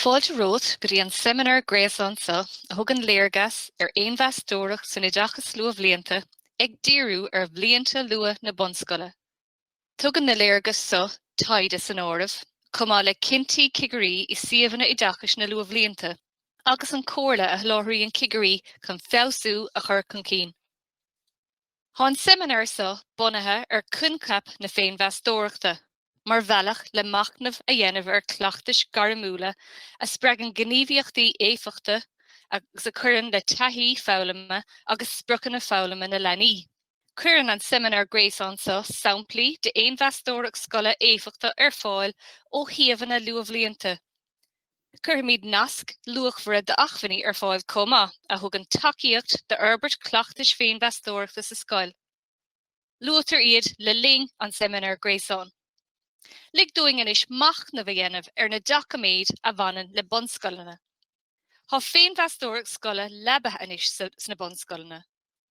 Fáilte romhat go dtí an seimineár gréasáin seo a thugann léargas ar Fhéinmheastóireacht san Oideachas Luathbhlianta ag díriú ar bhlianta luath na bunscoile. Tugann na léargais seo, taighde san áireamh, chomh maith le cinntí cigirí i suíomhanna oideachais na luathbhlianta agus an chomhairle a sholáthraíonn cigirí chun feabhsú a chur chun cinn. Tá an seimineár seo bunaithe ar choincheap na féinmheastóireachta mar bhealach le machnamh a dhéanamh ar chleachtais ghairmiúla a spreagann gníomhaíochtaí éifeachta agus a chuireann le taithí foghlama agus spriocanna foghlama na leanaí. Cuireann an seimineár gréasáin seo samplaí d'fhéinmheastóireacht scoile éifeachtach ar fáil ó shuíomhanna luathbhlianta. Cuirfimid naisc luachmhara d'acmhainní ar fáil chomh maith, a thugann tacaíocht d'fhorbairt chleachtais féinmheastóireachta sa scoil. Luaitear iad le linn an seimineáir gréasáin. Lig dúinn anois machnamh a dhéanamh ar na doiciméid a bhaineann le bunscoileanna. Tá féinmheastóireacht scoile leabaithe anois sna bunscoileanna.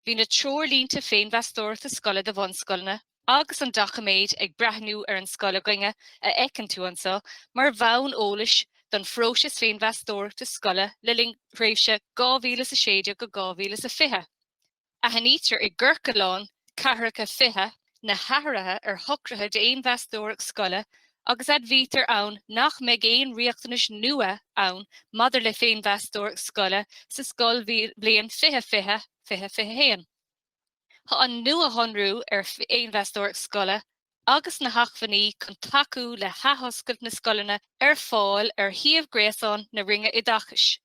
Bhí na treoirlínte féinmheastóireachta scoile do bhunscoileanna agus an doiciméad ag breathnú ar an scoil againne a fheiceann tú anso mar bhonn eolais don phróiseas féinmheastóireachta scoile le linn thréimhse 2016-2020. Aithnítear i gCiorclán 40 20, na hathruithe ar shocruithe d'fhéinmheastóireacht scoile agus admhaítear ann nach mbeidh aon riachtanais nua ann maidir le féinmheastóireacht scoile sa scoilbhliain 2020, 2021. Tá an nuashonrú ar fhéinmheastóireacht scoile agus na hacmhainní chun tacú le hathoscailt na scoileanna ar fáil ar shuíomh gréasáin na Roinne Oideachais.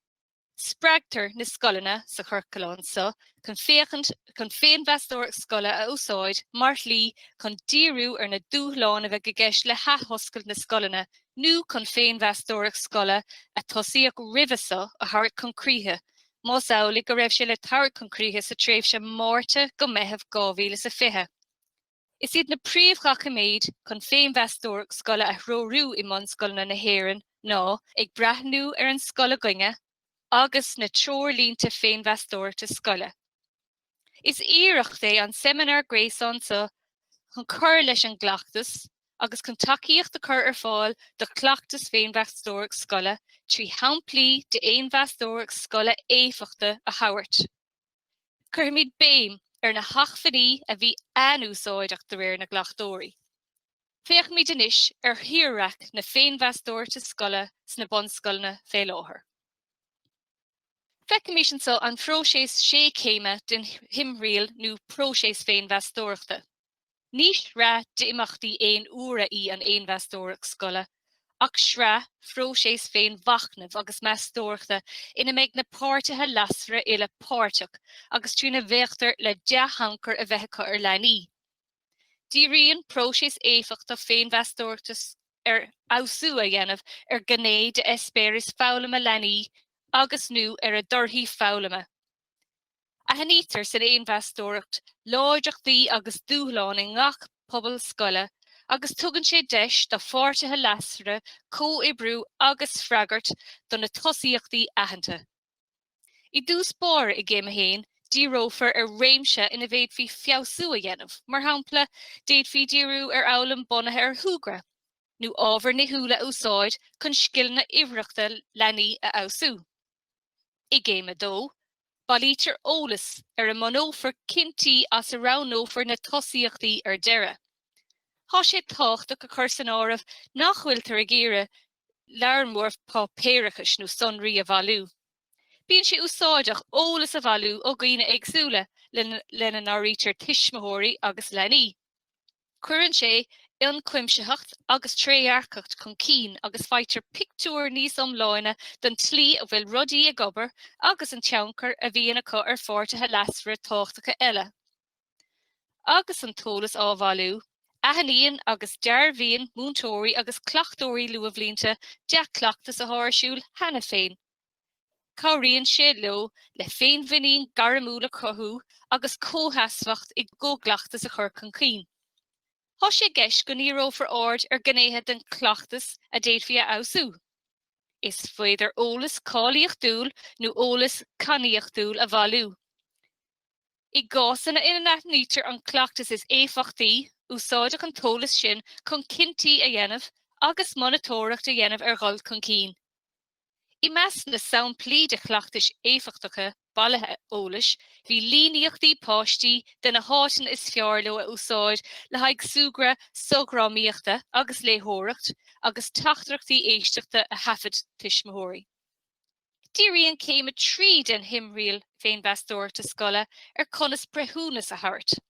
Spreagtar na scoileanna sa chiorclán seo chun féachaint chun féinmheastóireacht scoile a úsáid mar shlí chun díriú ar na dúshláin a bheidh i gceist le hathoscailt na scoileanna nó chun féinmheastóireacht scoile a tosaíodh roimhe seo a thabhairt chun críche, más amhlaidh go raibh sé le tabhairt chun críche sa tréimhse Márta go Meitheamh 2020. Is iad na príomhdhoiciméid chun féinmheastóireacht scoile a threorú i mbunscoileanna na hÉireann ná Ag Breathnú ar an Scoil Againne agus na Treoirlínte Féinmheastóireachta Scoile. Is iarracht é an seimineár gréasáin seo chun cur leis an gcleachtas agus chun tacaíocht a chur ar fáil do chleachtas féinmheastóireacht scoile trí shamplaí d'fhéinmheastóireacht scoile éifeachtach a thabhairt. Cuirfimid béim ar na hacmhainní a bhí an-úsáideach de réir na gcleachtóirí. Féachfaimid anois ar thírdhreach na féinmheastóireachta scoile sna bunscoileanna fé láthair. Feicfimid anso an phróiseas sé chéim den thimthriall nó próiseas féinmheastóireachta. Ní shraith d'imeachtaí aon uaire í an Fhéinmheastóireacht Scoile ach sraith, próiseas féinmhachnaimh agus meastóireachta ina mbeidh na páirtithe leasmhara uile páirteach agus trína bhféachtar le dea-thionchar a bheith acu ar leanaí. Díríonn próiseas éifeachtach féinmheastóireachta ar fheabhsú a dhéanamh ar ghné d'eispéireas foghlama leanaí agus, nó ar a dtorthaí foghlama. Aithnítear san fhéinmheastóireacht láidreachtaí agus dúshláin i ngach pobal scoile agus tugann sé deis do pháirtithe leasmhara comhoibriú agus freagairt do na tosaíochtaí aitheanta. I dtús báire i gCéim 1, díreofar ar réimse ina bhféadfaí feabhsú a dhéanamh, mar shampla, d'fhéadfaí díriú ar fhoghlaim bunaithe ar shúgradh, nó ábhair nithiúla a úsáid chun scileanna uimhearthachta leanaí a fheabhsú. I gCéim 2, bailítear eolas ar a mbunófar cinntí as a roghnófar na tosaíochtaí ar deireadh. Tá sé tábhachtach a chur san áireamh nach bhfuiltear ag iarraidh lear mór páipéarachais nó sonraí a bhailiú. Bíonn sé úsáideach eolas a bhailiú ó dhaoine éagsúla, lena n-áirítear tuismitheoirí agus leanaí. Cuireann sé ionchuimsitheacht agus trédhearcacht chun cinn agus faightear pictiúr níos iomláine den tslí a bhfuil rudaí ag obair agus an tionchar a bhíonn acu ar pháirtithe leasmhara tábhachtacha eile. Agus an t-eolas á bhailiú, aithníonn agus dearbhaíonn múinteoirí agus cleachtóirí luathbhlianta dea-chleachtas atá ar siúl cheana féin, Cabhraíonn sé leo le féinmhuinín gairmiúil a chothú agus comhsheasmhacht i gcomhchleachtas a chur chun cinn. Tá sé i gceist go ndíreofar aird ar ghnéithe den chleachtas a d'fhéadfaí a fheabhsú. Is féidir eolas cáilíochtúil nó eolas cainníochtúil a bhailiú. I gcásanna ina n-aithnítear an cleachtas is éifeachtaí, úsáideadh an t-eolas sin chun cinntí a dhéanamh agus monatóireacht a dhéanamh ar dhul chun cinn. I measc na samplaí de chleachtais éifeachtacha bailithe eolais bhí líníochtaí páistí de na háiteanna is fearr leo a úsáid le haghaidh súgradh sochdhrámaíochta agus léitheoireacht agus teachtaireachtaí éisteachta a thaifead tuismitheoirí. Díríonn céim a trí den thimthriall féinmheastóireachta scoile ar chonas breithiúnas a thabhairt.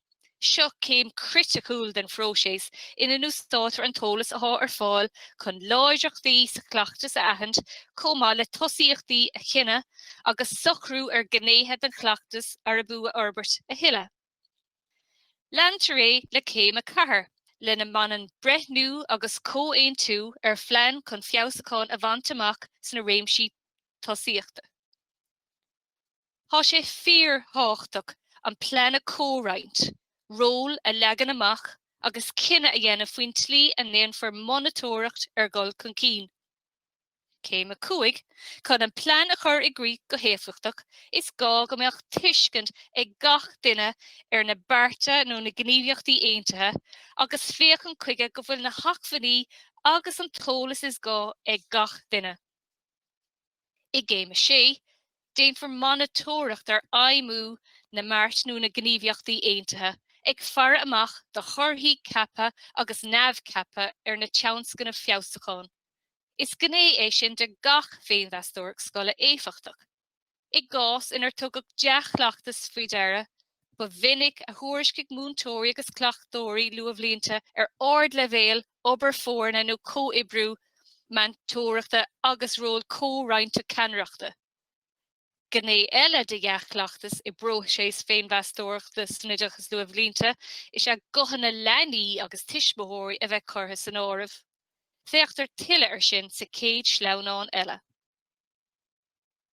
Seo céim chriticiúil den phróiseas ina n-úsáidtear an t-eolas atá ar fáil chun láidreachtaí sa chleachtas a aithint chomh maith le tosaíochtaí a chinneadh agus socrú ar ghnéithe den chleachtas arb fhiú a fhorbairt a thuilleadh. Leantar é le céim a ceathair, lena mbaineann breithniú agus comhaontú ar phlean chun feabhsúcháin a bhaint amach sna réimsí tosaíochta. Tá sé fíorthábhachtach an plean a chomhroinnt, róil a leagan amach agus cinneadh a dhéanamh faoin tslí a ndéanfar monatóireacht ar dhul chun cinn. Céim 5, Chun an plean a chur i gcrích go héifeachtach, is gá go mbeadh tuiscint ag gach duine ar na bearta nó na gníomhaíochtaí aontaithe agus féachaint chuige go bhfuil na hacmhainní agus an t-eolas is gá ag gach duine. I gCéim 6, déanfar monatóireacht ar fheidhmiú na mbeart nó na ngníomhaíochtaí aontaithe, ag faire amach do thorthaí ceaptha agus neamhcheaptha ar na tionscnaimh feabhsúcháin. Is gné é sin de gach féinmheastóireacht scoile éifeachtach. I gcás inar tugadh dea-chleachtas faoi deara, ba mhinic a thuairiscigh múinteoirí agus cleachtóirí luathbhlianta ar ardleibhéal obair foirne nó comhoibriú meantóireachta agus ról comhroinnte ceannaireachta. Gné eile de dhea-chleachtas i bpróiseas féinmheastóireachta san oideachas luathbhlianta is ea guthanna leanaí agus tuismitheoirí a bheith curtha san áireamh. Féachtar tuilleadh air sin sa chéad sleamhnán eile.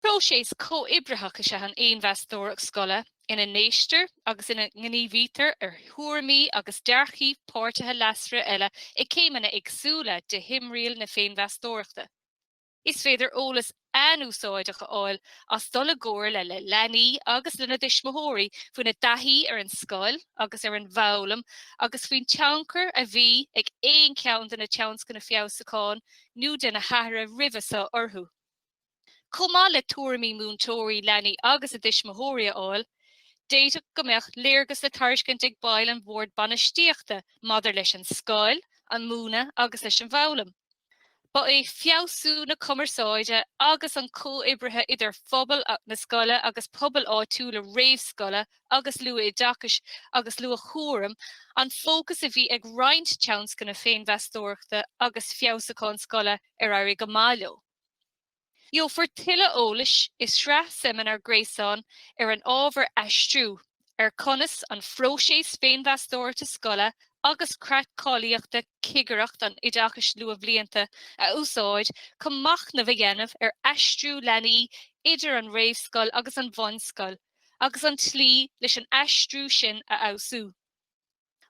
Próiseas comhoibritheach is ea an fhéinmheastóireacht scoile ina n-éistear agus ina ngníomhaítear ar thuairimí agus dearcthaí páirtithe leasmhara eile ag céimeanna éagsúla de thimthriall na féinmheastóireachta. Is féidir eolas an-úsáideach a fháil as dul i gcomhairle le leanaí agus lena dtuismitheoirí faoina dtaithí ar an scoil agus ar an bhfoghlaim agus faoin tionchar a bhí ag aon cheann de na tionscnaimh feabhsúcháin nó de na hathruithe roimhe seo orthu. Chomh maith le tuairimí múinteoirí, leanaí agus a dtuismitheoirí a fháil, d'fhéadfadh go mbeadh léargas le tairiscint ag baill an Bhoird Bainistíochta maidir leis an scoil, an múineadh agus leis an bhfoghlaim. Ba é feabhsú na cumarsáide agus an chomhoibrithe idir phobal na scoile agus pobail áitiúla réamhscoile agus Luath-Oideachais agus Luath-Chúraim an fócas a bhí ag roinnt tionscnamh féinmheastóireachta agus feabhsúcháin scoile ar éirigh go maith leo. Gheofar tuilleadh eolais i sraith seimineár gréasáin ar an ábhar 'Aistriú ar conas an phróiseas féinmheastóireachta scoile agus creat cáilíochta Chigireacht an Oideachais Luathbhlianta a úsáid chun machnamh a dhéanamh ar aistriú leanaí idir an réamhscoil agus an bhunscoil agus an tslí leis an aistriú sin a fheabhsú.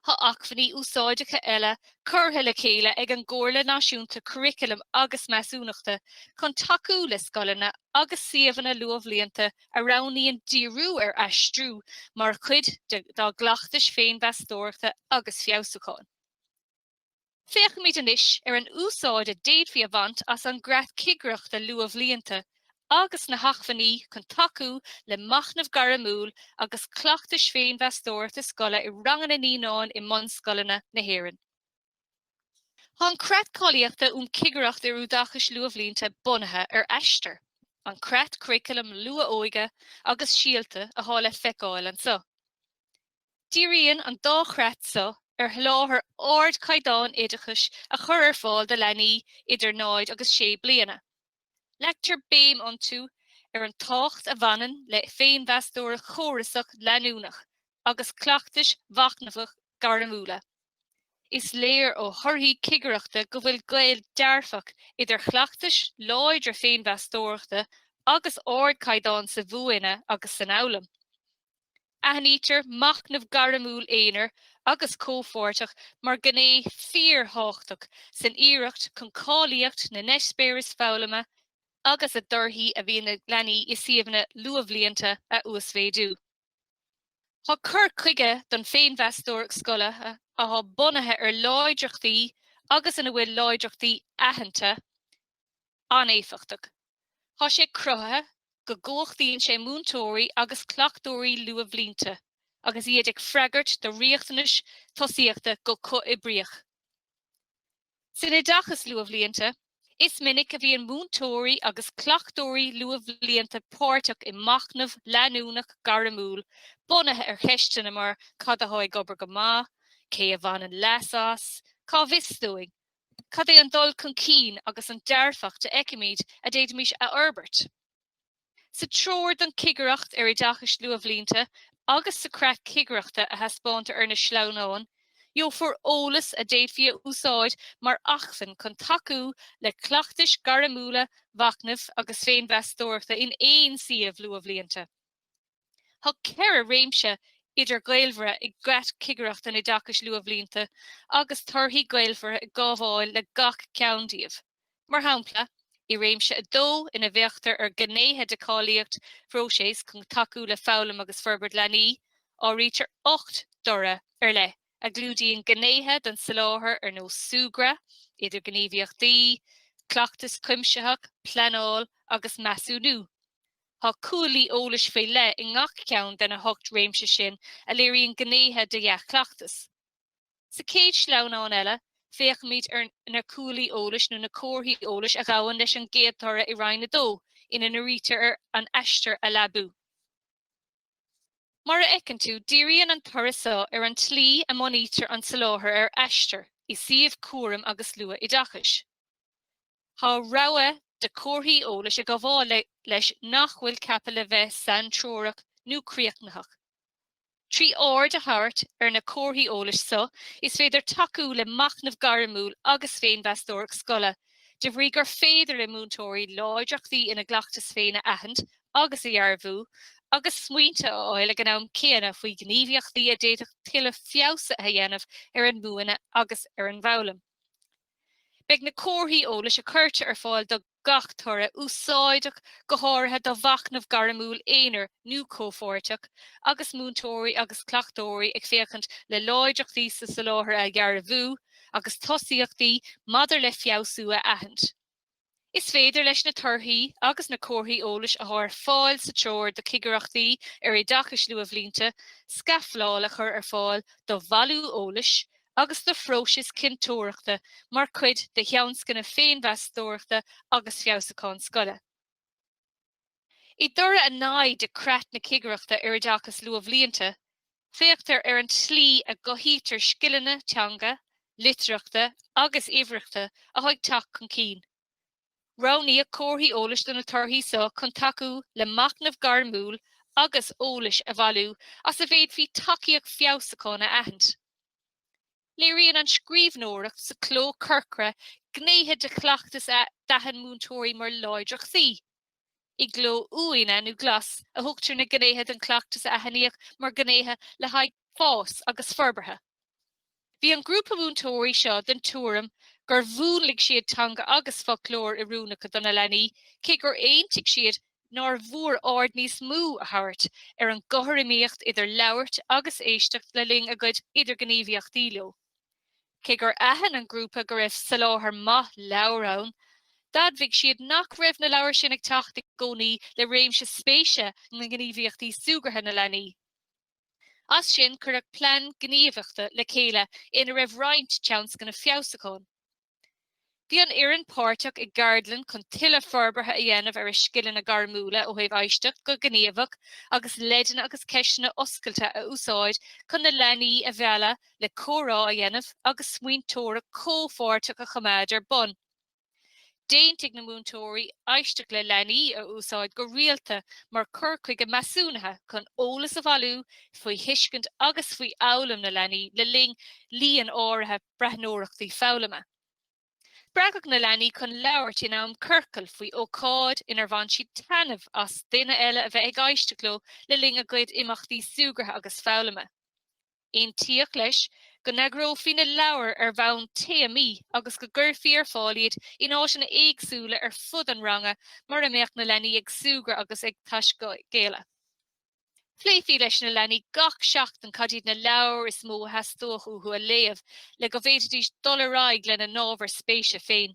Tá acmhainní úsáideacha eile curtha le chéile ag an gComhairle Náisiúnta Curaclaim agus Measúnachta chun tacú le scoileanna agus suíomhanna luathbhlianta a roghnaíonn díriú ar aistriú mar chuid dá gcleachtais féinmheastóireachta agus feabhsúcháin. Féachfaimid anois ar an úsáid a d'fhéadfaí a bhaint as an gcreat cigireachta luathbhlianta agus na hacmhainní chun tacú le machnamh gairmiúil agus cleachtais féinmheastóireachta scoile i ranganna naíonán i mbunscoileanna na hÉireann. Tá an creat cáilíochta um Chigireacht ar Oideachas Luathbhlianta bunaithe ar Aistear, an creat curaclaim luath-óige agus Síolta atá le feiceáil anseo. Díríonn an dá chreat seo ar sholáthar ardchaighdeáin oideachais a chur ar fáil do leanaí idir 0 agus 6 bliana. Leagtar béim iontu ar an tábhacht a bhaineann le féinmheastóireacht chórasach leanúnach agus cleachtais mhachnamhacha ghairmiúla. Is léir ó thorthaí cigireachta go bhfuil gaol dearfach idir chleachtais láidre féinmheastóireachta agus ardchaighdeáin sa mhúineadh agus san fhoghlaim. Aithnítear machnamh gairmiúil aonair agus comhpháirteach mar ghné fíorthábhachtach san iarracht chun cáilíocht na n-eispéireas foghlama agus na dtorthaí a bhíonn ag leanaí i suíomhanna luathbhlianta a uasmhéadú. Tá cur chuige don féinmheastóireacht scoile atá bunaithe ar láidreachtaí agus ina bhfuil láidreachtaí aitheanta, an-éifeachtach. Tá sé cruthaithe go gcumhachtaíonn sé múinteoirí agus cleachtóirí luathbhlianta agus iad ag freagairt do riachtanais tosaíochta go comhoibríoch. San oideachas luathbhlianta, is minic a bhíonn múinteoirí agus cleachtóirí luathbhlianta páirteach i machnamh leanúnach gairmiúil bunaithe ar cheisteanna mar 'Cad atá ag obair go maith? 'Cé a bhaineann leas as? 'Cá bhfios dúinn? Cad é an dul chun cinn agus an dearfacht a fheicimid a d'fhéadfaimis a fhorbairt? Sa Treoir don Chigireacht ar Oideachas Luathbhlianta agus sa Chreat Cigireachta a thaispeántar ar na sleamhnáin, gheofar eolas a d'fhéadfaí a úsáid mar acmhainn chun tacú le cleachtais ghairmiúla mhachnaimh agus féinmheastóireachta in aon suíomh luathbhlianta. Tá ceithre réimse idirghaolmhara i gCreat Chigireacht an Oideachais Luathbhlianta agus torthaí gaolmhara ag gabháil le gach ceann díobh. Mar shampla, i réimse 2, ina bhféachtar ar ghnéithe de cháilíocht phróiseas chun tacú le foghlaim agus forbairt leanaí, áirítear ocht dtoradh ar leith a chlúdaíonn gnéithe den soláthar ar nós súgradh, idirghníomhaíochtaí, cleachtas cuimsitheach, pleanáil agus measúnú. Tá cuaillí eolais faoi leith i ngach ceann de na hocht réimse sin a léiríonn gnéithe de dhea-chleachtas. Sa chéad sleamhnán eile, féachaimid ar na cuaillí eolais nó na comharthaí eolais a ghabhann leis an gcéad toradh i Roinn 2, ina ndírítear ar an Aistear a leabú. Mar a fheiceann tú, díríonn an toradh seo ar an tslí a mbunaítear an soláthar ar Aistear i suíomh cúraim agus luathoideachais. Tá rogha de chomharthaí eolais ag gabháil leis nach bhfuil ceaptha le bheith saintreorach nó críochnaitheach. Trí aird a thabhairt ar na comharthaí eolais seo is féidir tacú le machnamh gairmiúil agus féinmheastóireacht scoile, de bhrí gur féidir le múinteoirí láidreachtaí ina gcleachtas féin a aithint agus a dhearbhú, agus smaointe a fháil ag an am céanna faoi ghníomhaíochtaí a d'fhéadfadh tuilleadh feabhsaithe a dhéanamh ar an múineadh agus ar an bhfoghlaim. Beidh na comharthaí eolais a chuirtear ar fáil do gach toradh úsáideach go háirithe do mhachnamh gairmiúil aonair nó comhpháirteach agus múinteoirí agus cleachtóirí ag féachaint le láidreachtaí sa soláthar a dhearbhú agus tosaíochtaí maidir le feabhsú a aithint. Is féidir leis na torthaí agus na comharthaí eolais atá ar fáil sa Treoir do Chigireachtaí ar Oideachas Luathbhlianta scafláil a chur ar fáil do bhailiú eolais agus do phróisis cinnteoireachta mar chuid de thionscnaimh féinmheastóireachta agus feabhsúcháin scoile. I dtoradh a naoi de Chreat na Cigireachta ar Oideachas Luathbhlianta, féachtar ar an tslí a gcothaítear scileanna teanga, litearthachta agus uimhearthachta atá ag teacht chun cinn. Roghnaíodh comharthaí eolais do na torthaí seo chun tacú le machnamh gairmiúil agus eolas a bhailiú as a bhféadfaí tacaíocht feabhsúcháin a aithint. Léiríonn an scríbhneoireacht sa chló corcra gnéithe de chleachtas a d'aithin múinteoirí mar láidreachtaí. I gcló uaine nó glas a thugtar na gnéithe den chleachtas a aithníodh mar ghnéithe le haghaidh fáis agus forbartha. Bhí an grúpa múinteoirí seo den tuairim gur mhúnlaigh siad teanga agus foclóir oiriúnacha do na leanaí, cé gur aontaigh siad nár mhór aird níos mó a thabhairt ar an gcothromaíocht idir labhairt agus éisteacht le linn a gcuid idirghníomhaíochtaí leo. Cé gur aithin an grúpa go raibh soláthar maith leabhar ann, d'admhaigh siad nach raibh na leabhair sin ag teacht i gcónaí le réimse spéise ná gníomhaíochtaí súgartha na leanaí. As sin, cuireadh plean gníomhaíochta le chéile ina raibh roinnt tionscnamh feabhsúcháin. Bhí an fhoireann páirteach i gceardlann chun tuilleadh forbartha a dhéanamh ar a scileanna gairmiúla ó thaobh éisteacht go gníomhach agus leideanna agus ceisteanna oscailte a úsáid chun na leanaí a mhealladh le comhrá a dhéanamh agus smaointeoireacht chomhpháirteach a choimeád ar bun. D'aontaigh na múinteoirí éisteacht le leanaí a úsáid go rialta mar chur chuige measúnaithe chun eolas a bhailiú faoi thuiscint agus faoi fhoghlaim na leanaí le linn líon áirithe breathnóireachtaí foghlama. Spreagadh na leanaí chun labhairt in am ciorcail faoi ócáid inar bhain siad taitneamh as duine eile a bheith ag éisteacht leo le linn a gcuid imeachtaí súgartha agus foghlama. Aontaíodh leis go n-eagrófaí na leabhair ar bhonn téamaí agus go gcuirfí ar fáil iad in áiteanna éagsúla ar fud an ranga mar a mbeadh na leanaí ag súgradh agus ag taiscéaladh. Phléifí leis na leanaí gach seachtain cad iad na leabhair is mó a theastódh uathu a léamh le go bhféadfaidís dul ar aghaidh lena n-ábhair spéise féin.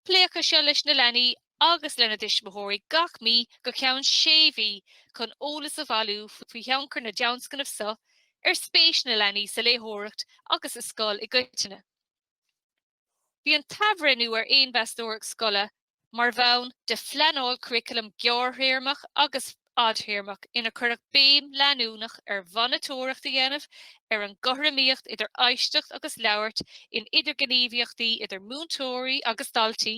Pléifí é seo leis na leanaí agus lena dtuismitheoirí gach mí go ceann sé mhí chun eolas a bhailiú faoi thionchar na dtionscnamh seo ar spéis na leanaí sa léitheoireacht agus sa scoil i gcoitinne. Bhí an t-athbhreithniú ar Fhéinmheastóireacht Scoile mar bhonn de phleanáil curaclaim ghearrthéarmach agus fhadthéarmach inar cuireadh béim leanúnach ar mhonatóireacht a dhéanamh ar an gcothromaíocht idir éisteacht agus labhairt in idirghníomhaíochtaí idir múinteoirí agus daltaí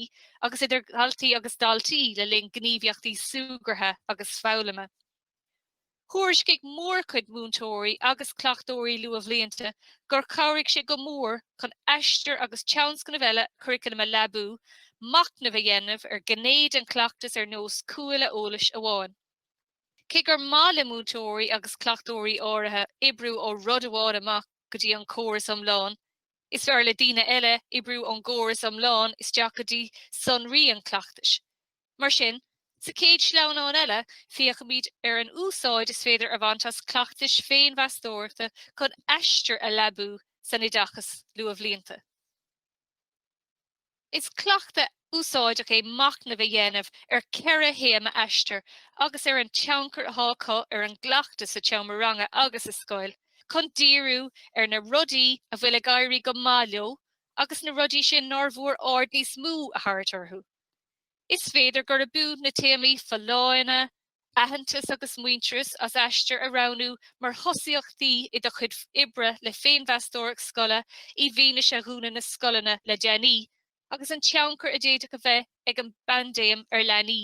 agus idir dhaltaí agus daltaí le linn gníomhaíochtaí súgartha agus foghlama. Thuairiscigh mórchuid múinteoirí agus cleachtóirí luathbhlianta gur chabhraigh sé go mór chun Aistear agus tionscnaimh eile curaclaim a leabú, machnamh a dhéanamh ar ghné den chleachtas ar nós cuaille eolais amháin. Cé gur maith le múinteoirí agus cleachtóirí áirithe oibriú ó rud amháin amach go dtí an córas iomlán, is fearr le daoine eile oibriú ón gcóras iomlán isteach go dtí sonraí an chleachtais. Mar sin, sa chéad sleamhnán eile, féachfaimid ar an úsáid is féidir a bhaint as cleachtais féinmheastóireachta chun Aistear a leabú san oideachas luathbhlianta. Is cleachtadh úsáideach é machnamh a dhéanamh ar cheithre théama Aistear agus ar an tionchar atá acu ar an gcleachtadh sa tseomra ranga agus sa scoil, chun díriú ar na rudaí a bhfuil ag éirí go maith leo agus na rudaí sin nár mhór aird níos mó a thabhairt orthu. Is féidir gurb fhiú na téamaí folláine, aitheantas agus muintearas as Aistear a roghnú mar thosaíochtaí i do chuid oibre le féinmheastóireacht scoile i bhfianaise dhúnadh na scoileanna le déanaí agus an tionchar a d'fhéadfadh a bheith ag an bpaindéim ar leanaí.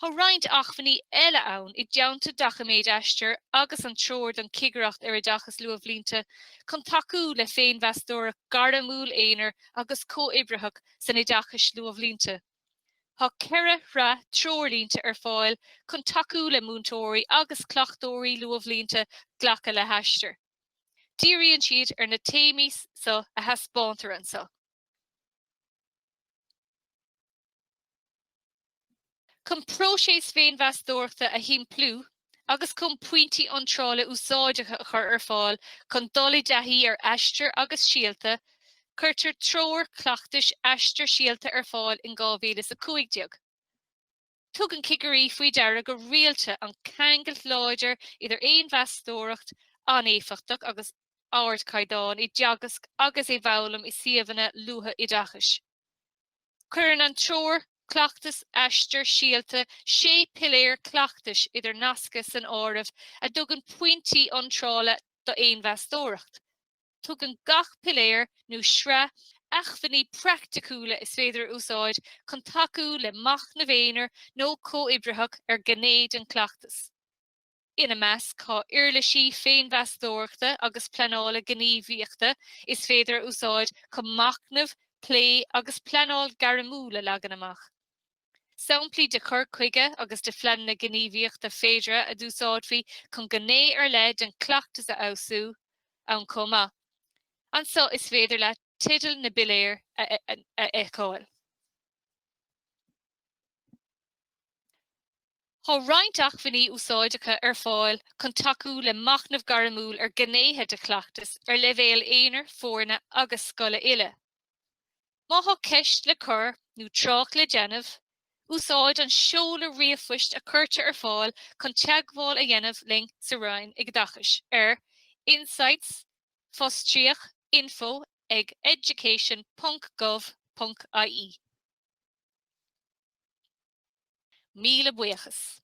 Tá roinnt acmhainní eile ann, i dteannta doiciméid Aistear agus an Treoir don Chigireacht ar Oideachas Luathbhlianta, chun tacú le féinmheastóireacht ghairmiúil aonair agus comhoibritheach san oideachas luathbhlianta. Tá ceithre shraith treoirlínte ar fáil chun tacú le múinteoirí agus cleachtóirí luathbhlianta glacadh le hAistear. Díríonn siad ar na téamaí so a thaispeántar anso. Chun próiseas féinmheastóireachta a shimpliú agus chun pointí iontrála úsáideacha a chur ar fáil chun dul i dtaithí ar Aistear agus Síolta, cuirtear treoir chleachtais Aistear Síolta ar fáil in 2015. Tugann cigirí faoi deara go rialta an ceangailt láidir idir fhéinmheastóireacht an-éifeachtach agus ardchaighdeán i dteagasc agus i bhfoghlaim i suíomhanna luathoideachais. Cuireann an treoir Cleachtais Aistear Síolta sé piléar cleachtais idirnasctha san áireamh a dtugann pointí iontrála d'fhéinmheastóireacht. Tugann gach piléar nó sraith acmhainní praiticiúla is féidir a úsáid chun tacú le machnamh aonair nó comhoibritheach ar ghné den chleachtas. Ina measc tá uirlisí féinmheastóireachta agus pleanála gníomhaíochta is féidir a úsáid chun machnamh, plé agus pleanáil gairmiúil a leagan amach. Samplaí de chur chuige agus de phleananna gníomhaíochta féideartha a d'úsáidfí chun gné ar leith den chleachtas a fheabhsú, ann chomh maith. Anso is féidir leat teideal na bpiléar a fheiceáil. Tá roinnt acmhainní úsáideacha ar fáil chun tacú le machnamh gairmiúil ar ghnéithe de chleachtas ar leibhéal aonair, foirne agus scoile uile. Má thá ceist le cur nó trácht le déanamh, úsáid an seoladh ríomhphoist a chuirtear ar fáil chun teagmháil a dhéanamh linn sa Roinn Oideachais ar, insights, fostríoch, info ag education.gov.ie. Míle buíochas.